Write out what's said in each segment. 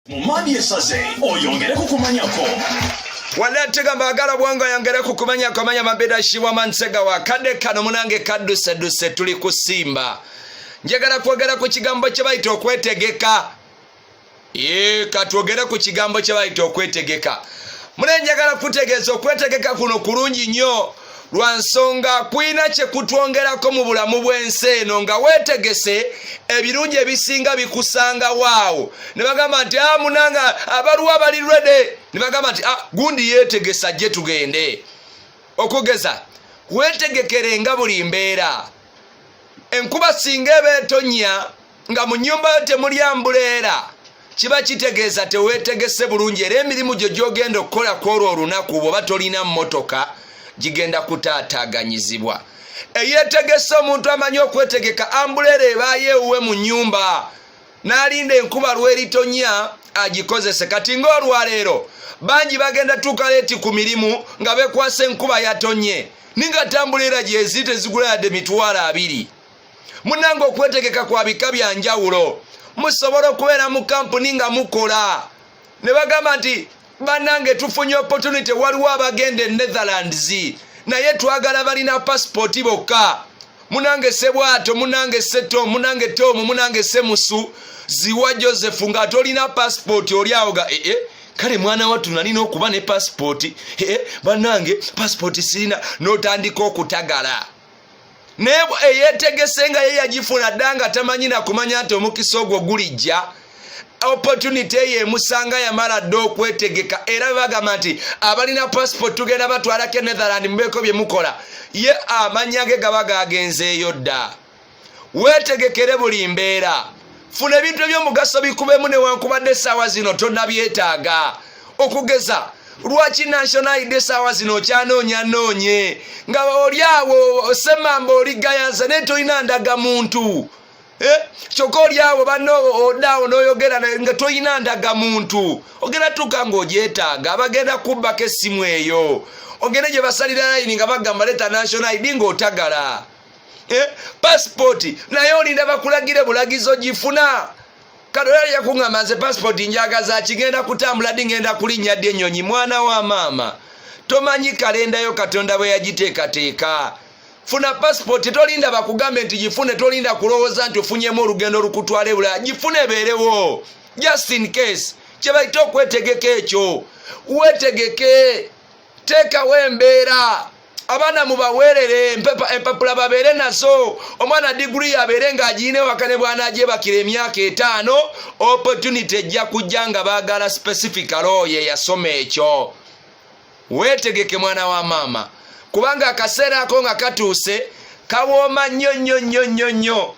mumani esaze oyongere kukumanyako wala tega mbagala bwango yangere kukumanya komanya mabeda shiwa mansega wa kade kano munange kaduse duse tuli kusimba njagala kwogera ku kigambo kye bayita okwetegeka ye katwogere ku kigambo kye bayita okwetegeka mune njagala kutegeeza okwetegeka kuno kulungi nnyo lwa nsonga kulina kye kutwongerako mu bulamu bw'ensi eno nga weetegese ebirungi ebisinga bikusangawo awo ne bagamba nti a ah, munanga abaliwo abali rede ne bagamba nti ah, gundi yeetegesa gye tugende okugeza weetegekere nga buli mbeera enkuba singa eba etonya nga mu nyumba yo temuli ambuleera kiba kitegeeza teweetegese bulungi era emirimu gyo gyogenda okukola kwolwo olunaku bwoba tolina mmotoka gigenda kutaataaganyizibwa eyeetegese omuntu amanyi okwetegeka ambuleera ebaayo ewuwe mu nyumba n'alinda enkuba lweritonya agikozese kati ng'olwaleero bangi bagenda tuuka leeti ku mirimu nga bekwasa enkuba yatonye ninga tambula era gyezi tezigula yadde mitwalo abiri munange okwetegeka kwa bika bya njawulo musobola okubeera mu kampuni nga mukola ne bagamba nti banange tufunye opportunity waliwo abagenda e netherlands naye twagala balina pasipooti bokka munange sebwato munange seto munange tomu munange semusu ziwa joseph nga tolina pasipooti oli awo ga ee eh, eh. kale mwana wattu nalina okuba ne pasipooti ee eh, banange pasipooti sirina notandika okutagala naye eyetegese nga ye yagifuna dda nga tamanyi nakumanya nti omukisa ogwo gulijja opportunity eyo emusanga yamala dda okwetegeka era bebagamba nti abalina passport tugenda batwalako enetherland mubeeko byemukola ye amanya ge gaba gagenzeeyo dda wetegekere buli mbeera funa ebintu ebyomugaso bikubemu newankubadde esaawa zino tonabyetaaga okugeza lwaki national id esaawa zino okyanoonya noonye nga oli awo semamba oli gayanza naye tolina ndaga muntu eh? kyokka oli awo banno odaawo noyogera nga tolina ndaga muntu ogenda tuuka ngaogyetaaga abagenda kubbako essimu eyo ogende gye basalira layini nga bagamba leta national id ngaotagala eh, pasipooti naye olinda bakulagire bulagizo gifuna katoyali yakuŋama nze pasipooti njagaza kigenda kutambula di ŋenda kulinnya ddi ennyonyi mwana wa maama tomanyi kalendayo katonda bwe yagiteekateeka funa pasipooti tolinda bakugambe nti gifune tolinda kulowooza nti ofunyemu olugendo olukutwala ebulaya gifune ebeerewo just in case kyebaita okwetegeka ekyo wetegeke teekawo embeera abaana mubaweerere empapula babeere nazo omwana diguli yabeere nga agiina ewaka ne bwanagyebakira emyaka etaano opportunity ejja kujja nga baagala specifical oyo eyasoma ekyo weetegeke mwana wa maama kubanga akaseera ako nga katuuse kawooma nnyo nnyo nnyo nnyo nnyo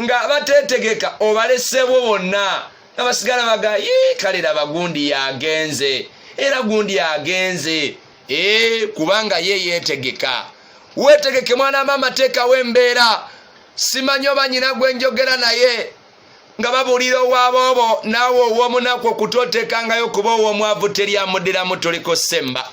nga abateetegeka obaleseebwo bonna nga basigala baga ye kale laba gundi yagenze era gundi agenze ee kubanga ye yeetegeka weetegeke mwana maama teekawo embeera simanyi oba nyina gwe njogera naye nga babuulira owaaboobo naawe ow'omunaku okutoteekangayo kuba ow'omwavu teri amuddiramu toliko semba